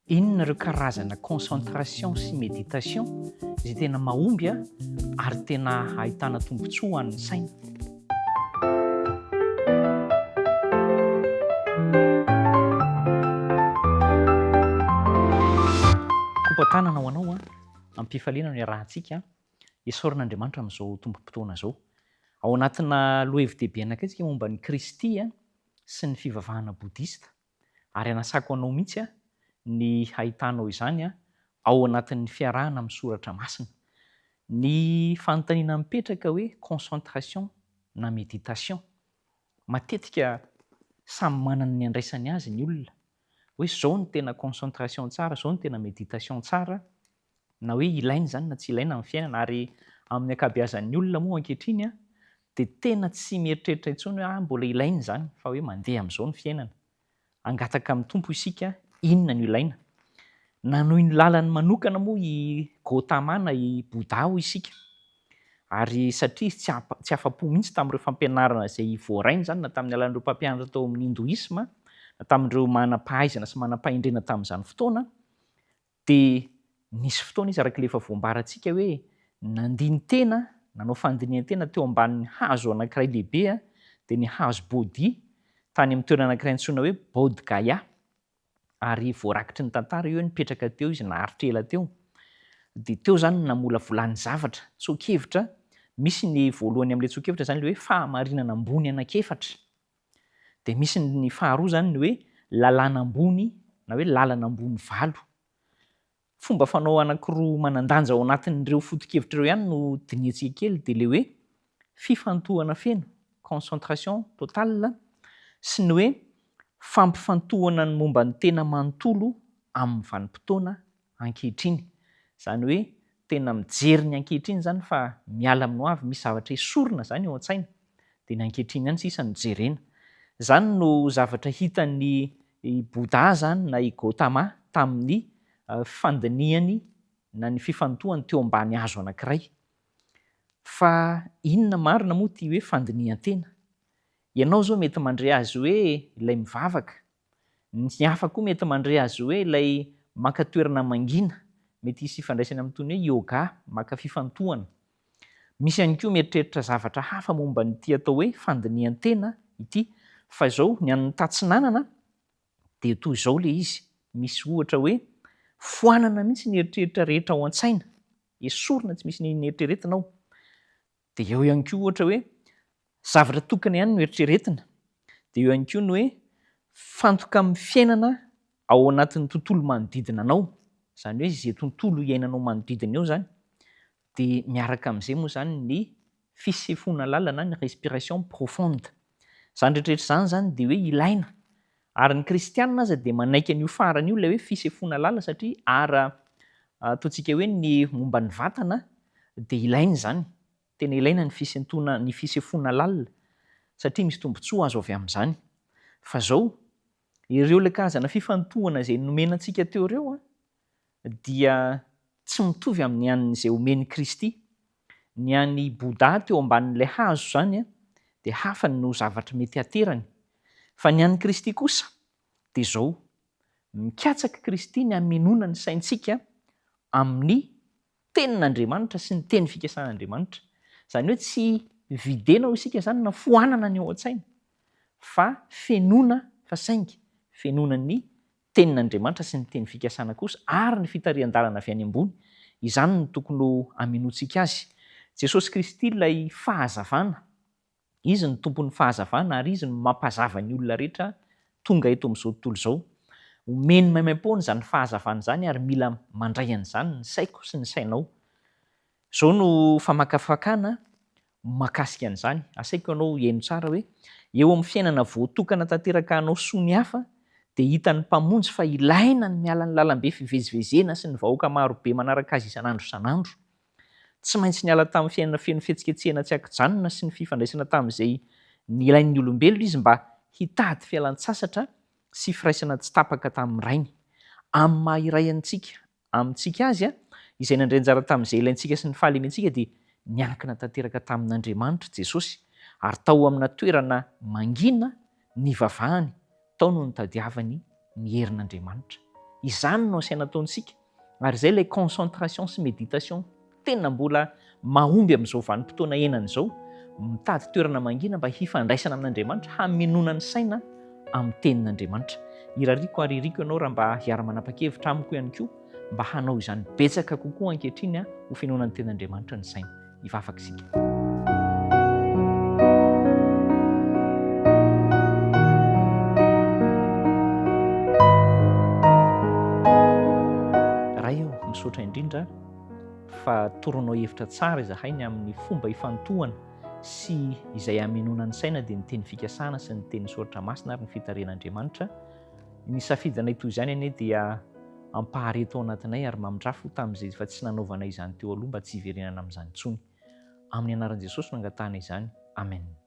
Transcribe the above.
Inona ireo karazana concentration sy méditation izay tena mahomby ary tena ahitana tombontsoa ho an'ny saina? Kopa-tanana ho anao am-pifaliana no iarahantsika isaorana Andriamanitra amin'izao tombom-potoana izao. Ao anatina lohahevi-dehibe anankiray isika momba an'i Kristy sy ny fivavahana bodista. ary anasako anao mihitsy ny hahitanao izany ao anatin'ny fiarahana amin'ny soratra masina. Ny fanontaniana mipetraka hoe concentration na méditation? Matetika samy manana ny andraisany azy ny olona hoe zao no tena concentration tsara, zao no tena méditation tsara. na hoe ilaina izany na tsy ilaina amin'ny fiainana, ary amin'ny ankabeazan'ny olona moa ankehitriny dia tena tsy mieritreritra intsony hoe ah mbola ilaina izany fa hoe mandeha amin'izao ny fiainana, hangataka amin'ny Tompo isika inona no ilaina. Nanohy ny lalany manokana moa i Gautama na i Bouddha hoy isika, ary satria izy tsy afa-po mihitsy tamin'ireo fampianarana izay voarainy izany na tamin'ny alalan'ireo mpampianatra tao amin'ny Hindoisma na tamin'ireo manam-pahaizana sy manam-pahendrena tamin'izany fotoana, Dia nisy fotoana izy, araka ilay efa voambarantsika hoe nandini-tena, nanao fandinihan-tena teo ambanin'ny hazo anankiray lehibe, dia ny hazo Bodhi, tany amin'ny toerana anankiray antsoina hoe Bodh Gaya. Ary voarakitry ny tantara io hoe nipetraka teo izy naharitra ela teo. Dia teo izany no namolavolany zavatra, tsoa-kevitra. Misy ny voalohany amin'ilay tsoa-kevitra izany ilay hoe fahamarinana ambony anankiefatra. Dia misy ny faharoa izany ny hoe lalàna ambony na hoe lalana ambony valo. Fomba fanao anankiroa manan-danja ao anatin'ireo foto-kevitra ireo ihany no dinihantsika kely dia ilay hoe fifantohana feno, concentration totale, sy ny hoe fampifantohana ny momba ny tena manontolo amin'ny vanim-potoana ankehitriny. Izany hoe tena mijery ny ankehitriny izany fa miala amin'ny hoavy, misy zavatra esorina izany eo an-tsaina, dia ny ankehitriny ihany sisa no jerena. Izany no zavatra hitan'i Bouddha izany na i Gautama tamin'ny fandinihany na ny fifantohany teo ambany hazo anankiray. Fa inona marina moa ity hoe fandinihan-tena? Ianao izao mety mandre azy hoe ilay mivavaka Ny hafa koa mety mandre azy io hoe ilay maka toerana mangina. Mety hisy ifandraisany amin'itony hoe yoga, maka fifantohana. Misy ihany koa mieritreritra zavatra hafa momba an'ity atao hoe fandinihan-tena ity. Fa izao, ny an'ny Tatsinanana dia toy izao ilay izy, misy ohatra hoe, Foanana mihitsy ny eritreritra rehetra ao an-tsaina. Esorina tsy misy ny eritreretina ao. Dia eo ihany koa ohatra hoe zavatra tokana ihany no eritreretina. Dia eo ihany koa ny hoe mifantoka amin'ny fiainana ao anatin'ny tontolo manodidina anao. Izany hoe izay tontolo iainanao manodidina eo izany. Dia miaraka amin'izay moa izany ny fisefoana lalina na ny respiration profonde. Izany rehetra rehetra izany izany dia hoe ilaina Ary ny kristianina aza dia manaiky an'io farany io ilay hoe fisefoana lalina satria ara ataontsika hoe ny momba ny vatana dia ilaina izany, tena ilaina ny fisentoana ny fisefoana lalina satria misy tombotsoa azo avy amin'izany. Fa izao, ireo ilay karazana fifantohana izay nomena antsika teo ireo a! dia tsy mitovy amin'ny an'izay omen'i Kristy. Ny an'i Bouddha teo ambanin'ilay hazo izany dia hafa ny no zavatra mety haterany. Fa ny an'i Kristy kosa dia izao, mikatsak'i Kristy ny hamenoana ny saintsika amin'ny Tenin'Andriamanitra sy ny teny fikasan'Andriamanitra. Izany hoe tsy videna hoy isika izany na foanana ny ao an-tsaina fa fenoina fa saingy fenoina ny Tenin'Andriamanitra sy ny teny fikasana kosa ary ny fitarihan-dalana avy any ambony. Izany no tokony ho aminoantsika Azy. Jesosy Kristy ilay Fahazavana. Izy no Tompon'ny Fahazavana ary Izy no mampazava ny olona rehetra tonga eto amin'izao tontolo izao. Omeny maimaim-poana izany Fahazavana izany ary mila mandray an'izany ny saiko sy ny sainao. Izao no famakafakana mahakasika an'izany. Asaiko ianao hihaino tsara hoe, eo amin'ny fiainana voatokana tanteraka hanao soa ny hafa, dia hitan'ny Mpamonjy fa ilaina ny miala ny lalambe fivezivezena sy ny vahoaka maro be manaraka Azy isan'andro isan'andro. Tsy maintsy niala tamin'ny fiainana feno fihetsiketsehana tsy ankijanona sy ny fifandraisana tamin'izay nilain'ny olombelona Izy mba hitady fialan-tsasatra sy firaisana tsy tapaka tamin'ny Rainy. Amin'ny maha-iray antsika Amintsika azy, izay nandray anjara tamin'izay ilaintsika sy ny fahalementsika dia niankina tanteraka tamin'Andriamanitra Jesosy, ary tao amina toerana mangina nivavahany tao no nitadiavany ny herin'Andriamanitra. Izany no asaina ataontsika, ary izay ilay concentration sy méditation. tena mbola mahomby amin'izao vanim-potoana iainana izao, mitady toerana mangina mba hifandraisana amin'Andriamanitra, hamenoana ny saina amin'ny Tenin'Andriamanitra. Irariako ary iriko ianao raha mba hiara-manapa-kevitra amiko ihany koa mba hanao izany betsaka kokoa ankehitriny ho fenoana ny Tenin'Andriamanitra ny saina. Hivavaka isika. Ray ô, misaotra indrindra. fa toronao hevitra tsara izahay ny amin'ny fomba ifantohana sy izay hamenoana ny saina dia ny teny fikasana sy ny teny soratra masina ary ny fitarihana Andriamanitra ny safidinay toy izany anie dia ampahareto ao anatinay ary mamindrafo tamin'izay efa tsy nanaovanay izany teo aloha mba tsy hiverenana amin'izany intsony amin'ny anaran'i Jesosy no angatahana izany Amen